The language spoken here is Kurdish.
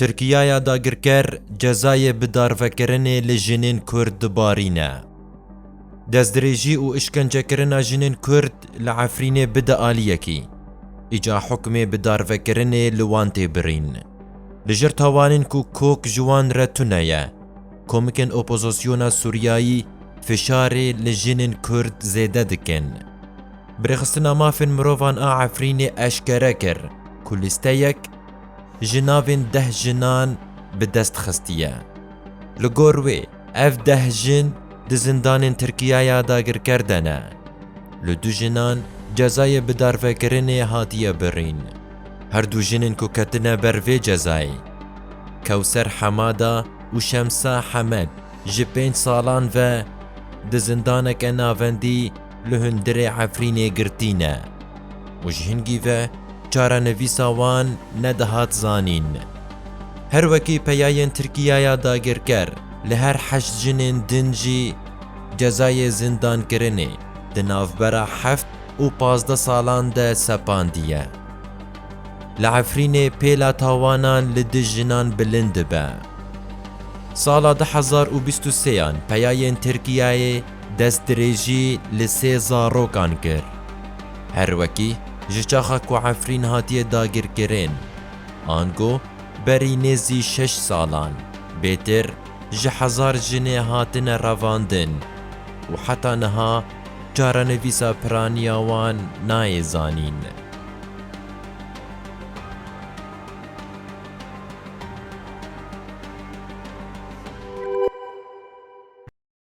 Tirkiyaya dagirker cezayê bidarvekirinê li jinên Kurd dibarîne. Destdirêjî û îşkencekirina jinên Kurd li Efrînê bide aliyekî. Îca hukmê bidarvekirinê li wan tê birîn. Li jir tawanên ku kok ji wan re tune ye, komikên opozosyona Sûriyayî fişarê li jinên Kurd zêde dikin. Birêxistina Mafên Mirovan a Efrînê eşkere kir ku lîsteyek, ji navên deh jinan bi dest xistiye. Li gor wê ev deh jin di zindanên Tirkiya ya dagirker de ne. Li du jinan cezayê bidarvekirinê hatiye birîn. Her du jinên ku ketine ber vê cezayê, Kewser Hemada û Şemsa Hemed ji pênc salan ve di zindaneke navendî, li hundirê Efrînê girtî ne û ji hingî ve çarenivîsa wan nedihat zanîn. Her wekî peyayên Tirkiyaya dagirker li her heşt jinên din jî cezayê zindankirinê di navbera heft û pazdeh salan de sepandiye. Li Efrînê pêla tawanan li dij jinan bilind dibe. Sala du hezar û bîst û sêyan peyayên Tirkiyayê, Destdirêjî li sê zarokan kir. Her wekî ji çaxa ku Efrîn hatiye dagirkirin, ango berî nêzî şeş salan, bêtir ji hezar jinê hatine revandin û heta niha çarenivîsa piraniya wan nayê zanîn.